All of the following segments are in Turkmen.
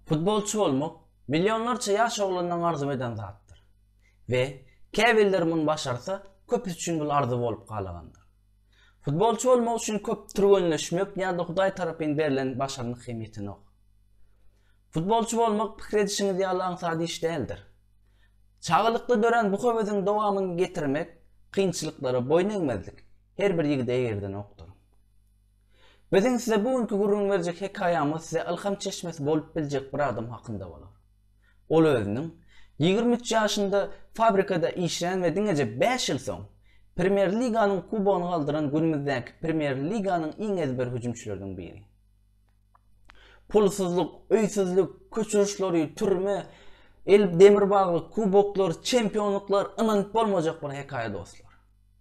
Futbolçy bolmak millionlarça ýaş oglanlaň arzuw eden zatdyr. We, käbirler muny başarsa, köpüsi üçin bul arzuw bolup galagandyr. Futbolçy bolmak üçin köp türgenleşmek ýa-da Hudaý tarapyn berlen başarnyk hem ýetenok. Futbolçy bolmak pikir edişiňiz ýaly aňsat iş däldir. Çagalykda dörän bu höwesiň dowamyny getirmek, kynçylyklara boýun egmezlik her bir ýigide eýerdenokdyr. Biziň size bu günki gürrüň berjek hekaýamyz size ylham çeşmesi bolup biljek bir adam hakynda bolar. Ol özüniň ýigrimi üç ýaşynda fabrikada işlän we diňeje bäş ýyl soň Premýer Liganyň kubogyny galdyran günümizdäki Premýer Liganyň iň ezber hüjümçileriniň biri. Pulsuzlyk, öýsüzlik, köçüriş lory, türme, el demir baglyk, kuboklar, çempionlyklar ynanyp bolmajak bir hekaýa dostlar.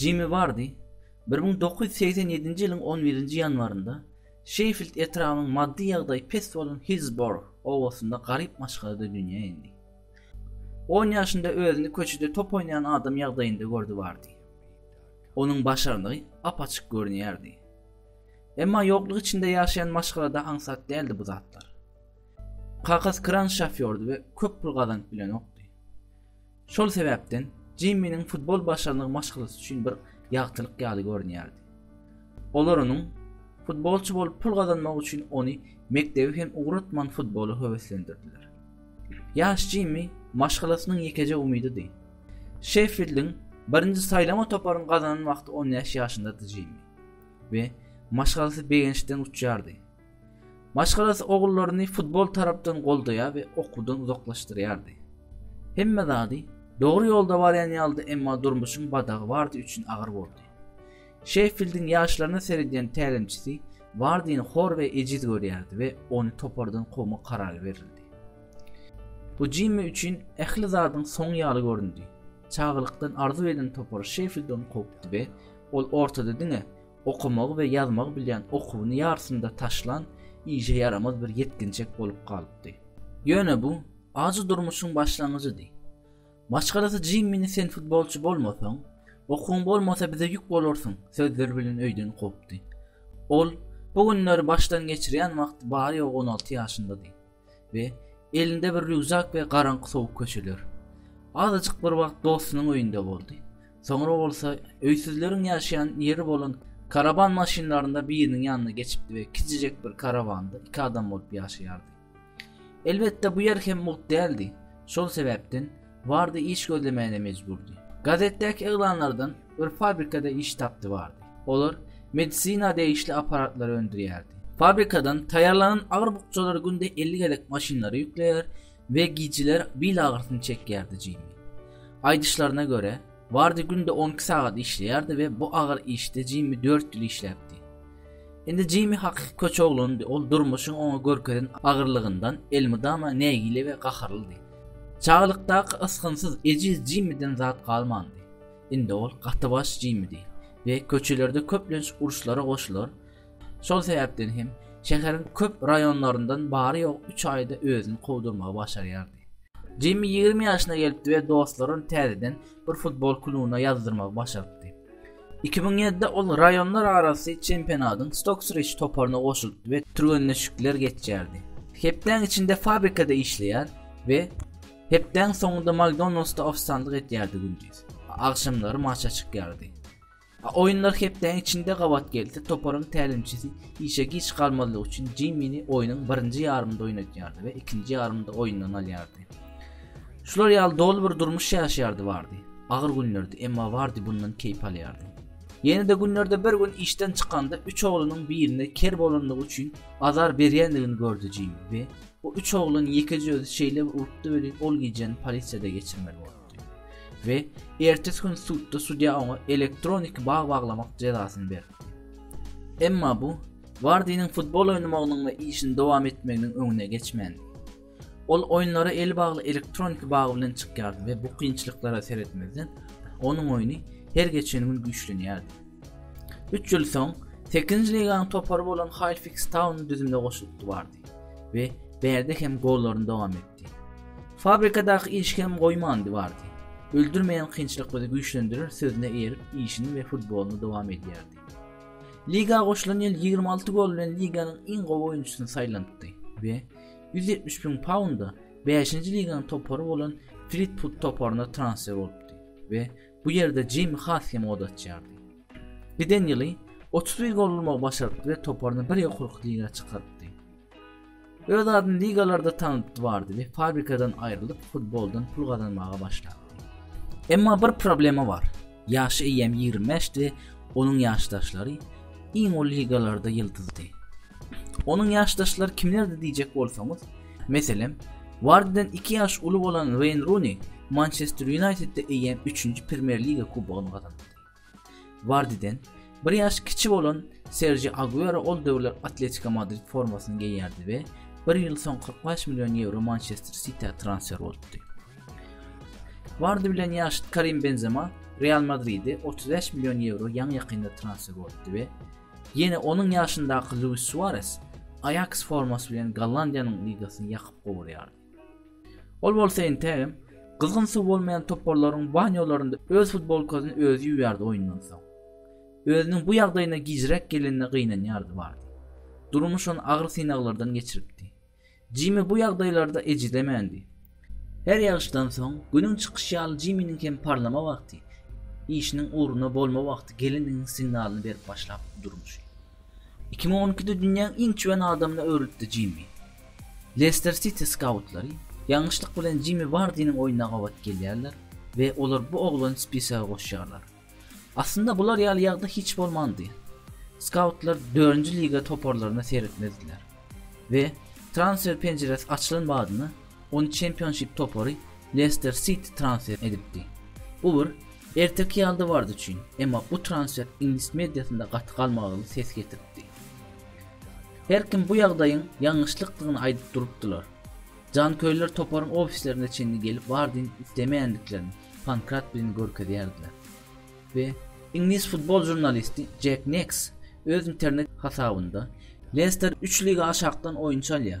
Jimmi Wardi bir müň dokuz ýüz segsen ýedinji ýylyň on birinji ýanwarynda Şeýfild etrabynyň maddy ýagdaýy pes bolan Hillsborough obasynda garyp maşgalada dünýä indi. On ýaşynda özüni köçede top oýnaýan adam ýagdaýynda gördi Wardi. Onuň başarnygy ap-açyk görünýärdi. Emma ýoklyk içinde ýaşaýan maşgalada aňsat däldi bu zatlar. Kakasy kran şofýordy we köp pul gazanyp bilenokdy. Şol sebäpden Jimminiň futbol başarnygy maşgalasy üçin bir ýagtylyk ýaly görünýärdi. Olar onuň futbolçy bolup pul gazanmagy üçin ony mekdebi hem ugratman futbola höweslendirdiler. Ýaş Jimmi maşgalasynyň ýekeje umydydy. Şeffildiň birinji saýlama toparyny gazanan wagty on bäş ýaşyndady Jimmi we maşgalasy begençden uçýardy. Maşgalasy ogullaryny futbol tarapdan goldaýar we okuwdan uzaklaşdyrýardy. Hemme zady dogry ýolda barýan ýalydy, emma durmuşyň badagy Wardi üçin agyr boldy. Şeffildiň ýaşlaryna seredýän tälimçisi Wardini hor we ejiz görýärdi we ony topardan kowmak karary berildi. Bu Jimmi üçin ähli zadyň soňy ýaly göründi. Çagalykdan arzuw eden topar Şeffild ony kowupdy we ol ortada diňe Okamagy we ýazmagy bilýän okuwyny ýarysynda taşlan işe ýaramaz bir ýetginjek bolup galypdy. Ýöne bu ajy durmuşyň başlangyjydy. Maşgalasy Jimmini sen futbolçy bolmasaň, okuwyň bolmasa bize ýük bolarsyň sözleri bilen öýden kowupdy. Ol bu günleri başdan geçirýän wagty bary-ýogy on alty ýaşyndady. we elinde bir rýukzak we garaňky sowuk köçeler. Azajyk bir wagt dostunyň öýünde boldy. Soňra bolsa öýsüzleriň ýaşaýan ýeri bolan karaban maşynlarynda biriniň ýanyna geçipdi we kiçijek bir karawanda iki adam bolup ýaşaýardy. Elbetde bu ýer hem mugt däldi. Şol sebäpden Bardy iş gözlemäne mejburdy. Gazetdäki yglanlardan bir fabrikada iş tapdy bardy. Olar medisina degişli aparatlary öndürýärdi. Fabrikadan taýýarlanan agyr bukjalar günde 50 gezek maşynlara ýükleýär we gijeler bil agyrysyny çekýärdi Jimmi. Aýdyşlaryna görä, Wardi günde on iki sagat işleýärdi we bu agyr işde Jimmi dört ýyl işläpdi. Indi Jimmi hakyky köçe oglandy, ol durmuşyň oňa görkezen agyrlygyndan elmydama nägile we gaharlydy. Çagalykdaky ysgynsyz, ejiz Jimmiden zat galmandy. Indi ol gatybaş Jimmidi we köçelerde köplenç uruşlara goşular, Şol sebäpden hem şäheriň köp raýonlaryndan bary ýogy üç aýda özüni kowdurmagy başarýardy. Jimmi ýigrimi ýaşyna gelipdi we dostlaryny täzeden bir futbol klubyna ýazdyrmagy başarypdy. Iki müň ýedide ol raýonlar arasy çempionatyň Stoksrich toparyna goşulypdy we türgenleşikler geçýärdi. Hepdäň içinde fabrikada işleýär we hepdäň soňunda Makdonaldsda ofisiantlyk etýärdi-gündiz, agşamlary maça çykýardy. A Oýunlar hepdäniň içinde gabat gelse, toparyň tälimçisi işe giç galmazlyk üçin Jimmini oýnuň birinji ýarymynda oýnadýardy we ikinji ýarymynda oýundan alýardy. Şular ýaly doly bir durmuş ýaşaýardy Wardi. Agyr günlerdi, emma Wardi bundan keýp alýardy. Ýene-de günlerde bir gün işden çykanda üç oglunyň birine ker bolandygy üçin azar berýändigini gördi Jimmi we bu üç oglan ýekeje özi şeýlebir urupdy welin ol gijäni polisiýada geçirmeli boldy. we ertesi gün sudda sudýa oňa elektroniki bag baglamak jezasyny berdi. Emma bu Wardiniň futbol oýnamagynyň we işini dowam etmeginiň öňüne geçmändi. Ol oýunlara eli bagly elektroniki bag bilen çykýardy we bu kynçylyklara seretmezden, onuň oýny her geçen gün güýçlenýärdi. Üç ýyl soň, sekizinji liganyň topary bolan Halfix Taun düzümine goşulypdy Wardi we bärde hem gollaryny dowam etdi. Fabrikadaky iş hem goýmandy bardy. Öldürmeýän kynçylyk bizi güýçlendirer sözüne eýerip işini we futbolyny dowam edýärdi. Liga goşulan ýyl ýigrimi alty gol bilen liganyň iň gowy oýunçysyny saýlanypdy we ýüz ýetmiş müň paunda bäşinji liganyň topary bolan Flitwud toparyna transfer bolupdy we bu ýerde Jimi Hass hem ot açýardy. Giden ýyly otuz bir gol urmagy başarypdy we toparyny bir ýokarky liga çykarypdy. Öz adyny ligalarda tanaldypdy bardy we fabrikadan aýrylyp futboldan pul gazanmaga başlapdy. Emma bir problema bar. Ýaşy eýýäm 25 di, onuň ýaşdaşlary iň uly ligalarda ýyldyzdy. Onuň ýaşdaşlary kimlerdi diýjek bolsaňyz, meselem, Wardiden 2 ýaş uly bolan Weýn Runi Mançester Ýunaýtedde eýýäm 3-nji Premýer Liga kubogyny gazandy. Wardiden bir ýaş kiçi bolan Serji Aguero ol döwürler Atletiko Madrid formasyny geýýärdi we bir ýyl soň 45 million ýewro Mançester Sitiä transfer bolupdy. Wardi bilen ýaşyt Karim Benzema Real Madride 35 million ýewro ýaňy-ýakynda transfer bolupdy we ýene onuň ýaşyndaky Luis Suarez Aýaks formasy bilen Gollandiýanyň ligasyny ýakyp gowurýardy. Ol bolsa entegem gyzgyn suw bolmaýan toparlaryň banýolarynda öz futbolkasyny özi ýuwýardy oýundan soň. Özüniň bu ýagdaýyna gijräk gelenine gynanýardy bardy. Durmuş ony agyr synaglardan geçiripdi. Jimmi bu ýagdaýlarda ejizemändi. Her ýagyşdan soň, günüň çykyşy ýaly Jimminiň hem parlama wagty, işiniň ugruna bolma wagty gelendiginiň signalyny berip başlapdy Durmuş. Iki müň on ikide dünýäň iň çüwen adamyna öwrülipdi Jimmi. Lester Siti skautlary ýalňyşlyk bilen Jimmi Wardiniň oýnuna gabat gelýärler we olar bu oglany spisege goşýarlar. Aslynda bular ýaly ýagdaý hiç bolmandy. Skautlar dördünji liga toparlaryna seretmezdiler we transfer penjiresi açylan badyna ony çempionşip topary Lester Siti transfer edipdi. Bu bir erteki ýalydy Ward üçin, emma bu transfer iňlis mediasynda gaty galmagaly ses getiripdi. Her kim bu ýagdaýyň ýalňyşlykdygyny aýdyp durupdylar. Janköýerler toparyň ofislerine çenli gelip Wardini islemeýändiklerini Pankrat bilen görkezýärdiler. We iňlis futbol žurnalisti Jek Neks öz internet hasabynda Lester üç liga aşakdan oýunçy alýar.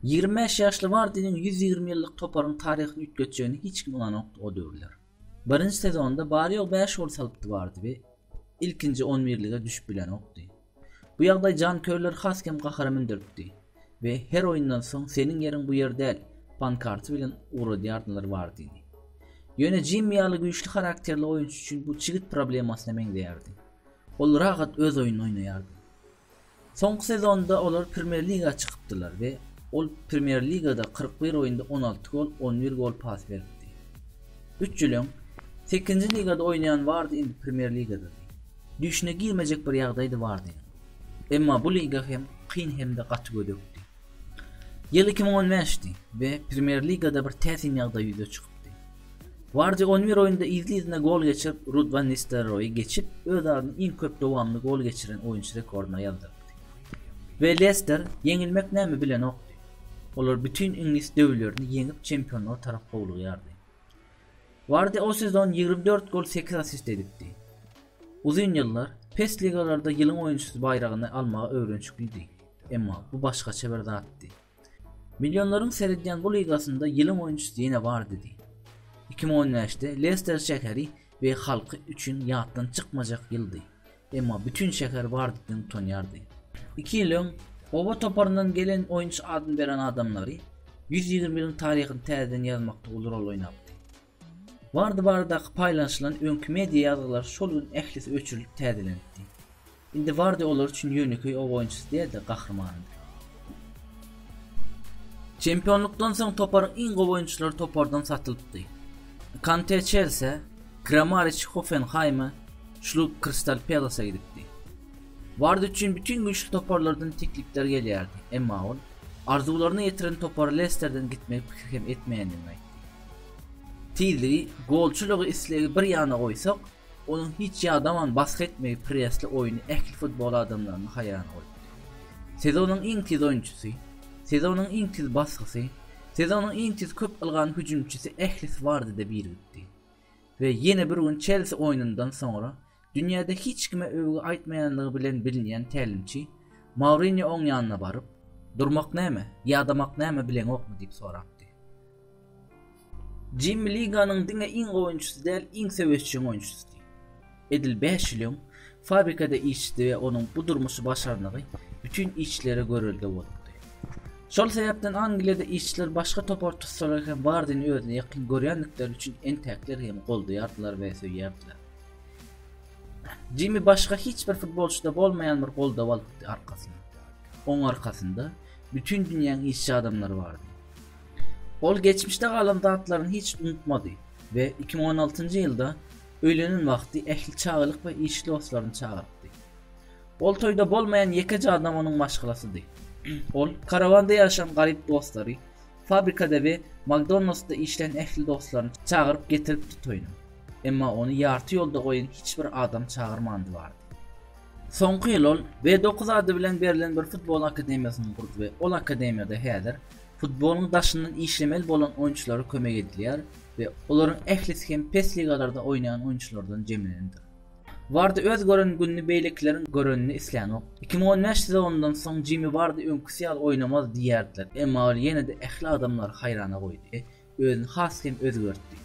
Ýigrimi bäş ýaşly Wardiniň ýüz ýigrimi ýyllyk toparyň taryhyny üýtgetjegine hiç kim ynanokdy o döwürler. Birinji sezonda bary-ýogy bäş gol salypdy Wardi we ilkinji on birlige düşüp bilenokdy. Bu ýagdaý janköýerleri has hem gahara mündüripdi we her oýundan soň Seniň ýeriň bu ýer däl! pankarty bilen ugradýardylar Wardini. Ýöne Jimmi ýaly güýçli harakterli oýunçy üçin bu çigit problemasyna meňzeýärdi. Ol rahat öz oýnuny oýnaýardy. Soňky sezonda olar Premýer Liga çykypdylar we ol Premýer Ligada kyrk bir oýunda on alty gol, on bir gol pas beripdi. Üç ýyl öň, Sekizinji ligada oýnaýan Wardi indi Premýer Ligadady. Düýşüne girmejek bir ýagdaýdy Wardiň. Emma bu liga hem kyn hem-de gaty gödekdi. Ýyl iki müň on bäşdi we Premýer Ligada bir täsin ýagdaý ýüze çykypdy. Wardi on bir oýunda yzly-yzyna gol geçirip, Rud Wan Nistelroýy geçip, öz adyny iň köp dowamly gol geçiren oýunçy rekordyna ýazdyrdy. We Lester ýeňilmek näme bilenokdy. Olar bütin iňlis döwlerini ýeňip çempionlyga tarap howlugýardy. Wardi o sezon ýigrimi dört gol sekiz assist edipdi. Uzyn ýyllar pes ligalarda ýylyň oýunçysy baýragyny almaga öwrenşiklidi. Emma bu başgaça bir zatdy. Millionlaryň seredýän bu ligasynda ýylyň oýunçysy ýene bar diýdi. Iki müň on bäşde Lester şäheri we halky üçin ýatdan çykmajak ýyldy, emma bütin şäher bar diýdiň utanýardy. Iki ýyl öň, oba toparyndan gelen oýunçy adyny beren adamlary, ýüz ýigrimi ýylyň taryhyny täzeden ýazmakda uly rol oýnapdy. Wardy baradaky paýlanyşylan öňki media ýazgylary şol gün ählisi öçürilip täzelenipdi. Indi Wardy olar üçin ýönekeý oba oýunçysy däl-de, gahrymanydy. Çempionlykdan soň toparyň iň gowy oýunçylary topardan satylypdy. Kante Çelsä, Kramariç Hoffenhaýma, Şlup Krystal Pelasa gidipdi. Wardy üçin bütin güýçli toparlardan teklipler gelýärdi, emma ol arzuwlaryna ýetiren topary Lesterden gitmegi pikir hem etmeýändigini aýtdy. Tizligi, golçulygy, islegi bir ýana goýsak, onuň hiç ýadaman basgy etmegi presli oýny ähli futbol adamlaryny haýrana goýupdy. Sezonyň iň tiz oýunçysy, sezonyň iň tiz basgysy, sezonyň iň tiz köp ylgan hüjümçisi ählisi bardide birigipdi. We ýene bir gün Çelsi oýnundan soňra Dünýäde hiç kime öwgi aýtmaýanlygy bilen bilinýän tälimçi Mourinýo oň ýanyna baryp, Durmak näme, ýadamak näme bileňokmy diýip sorapdy. Jimmi liganyň diňe iň gowy oýunçysy däl, iň söweşjeň oýunçysydy. Edil bäş ýyl öň fabrikada işçidi we onuň bu durmuşy başarnygy bütin işçilere görelde bolupdy. Şol sebäpden Angliýada işçiler başga topar tussalar hem Wardini özüne ýakyn görýändikleri üçin entäkler hem goldaýardylar we söýýärdiler. Jimmi başga hiç bir futbolçyda bolmaýan bir goldaw alypdy arkasyna. Oň arkasynda bütin dünýäň işçi adamlary bardy. Ol geçmişde galan zatlaryny hiç unutmady we 2016-njy ýylda öýlenen wagty ähli çagalyk we iş dostlaryny çagyrypdy. Ol toýda bolmaýan ýekeje adam onuň maşgalasydy. Ol karawanda ýaşan garyp dostlary, fabrikada we Makdonaldsda işlän ähli dostlaryny çagyryp getiripdi toýuna. Emma ony ýarty ýolda goýan hiç bir adam çagyrmandy bardy. Soňky ýyl ol B dokuz ady bilen berlen bir futbol akademiýasyny gurdy we ol akademiýada häzir futbolyň daşyndan işlemeli bolan oýunçylara kömek edilýär we olaryň ählisi hem pes ligalarda oýnaýan oýunçylardan jemlenendir. Wardi öz gören gününi beýlekileriň görenini islänok. Iki müň on bäş sezonyndan soň Jimi Wardi öňküsi ýaly oýnamaz diýýärdiler, emma ol ýene-de ähli adamlary haýrana goýdy. özüni has hem özgertdi.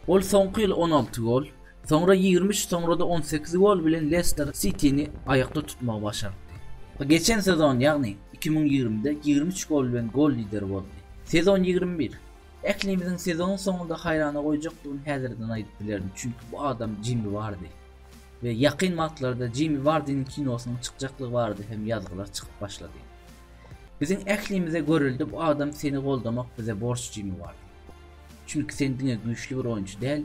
Ol soňky ýyl on alty gol, soňra ýigrimi üç, soňra-da on sekiz gol bilen Lester Sitini aýakda tutmagy başartdy. Geçen sezon, ýagny iki müň ýigrimide ýigrimi üç gol bilen gol lideri boldy. Sezon ýigrimi bir. Ählimiziň sezonyň soňunda haýrana goýjakdygyny häzirden aýdyp bilerin, çünki bu adam Jimmi Wardi. We ýakyn wagtlarda Jimmi Wardiniň kinosynyň çykjaklygy barada hem ýazgylar çykyp başlady. Biziň ählimize görelde bu adam seni goldamak bize borç jimi bar. Çünki sen diňe güýçli bir oýunçy däl,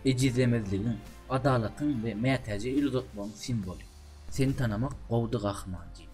ejizlemezligiň, adalatyň we mätäje el uzatmagyň simwoly. Seni tanamak gowdy gahryman jimi.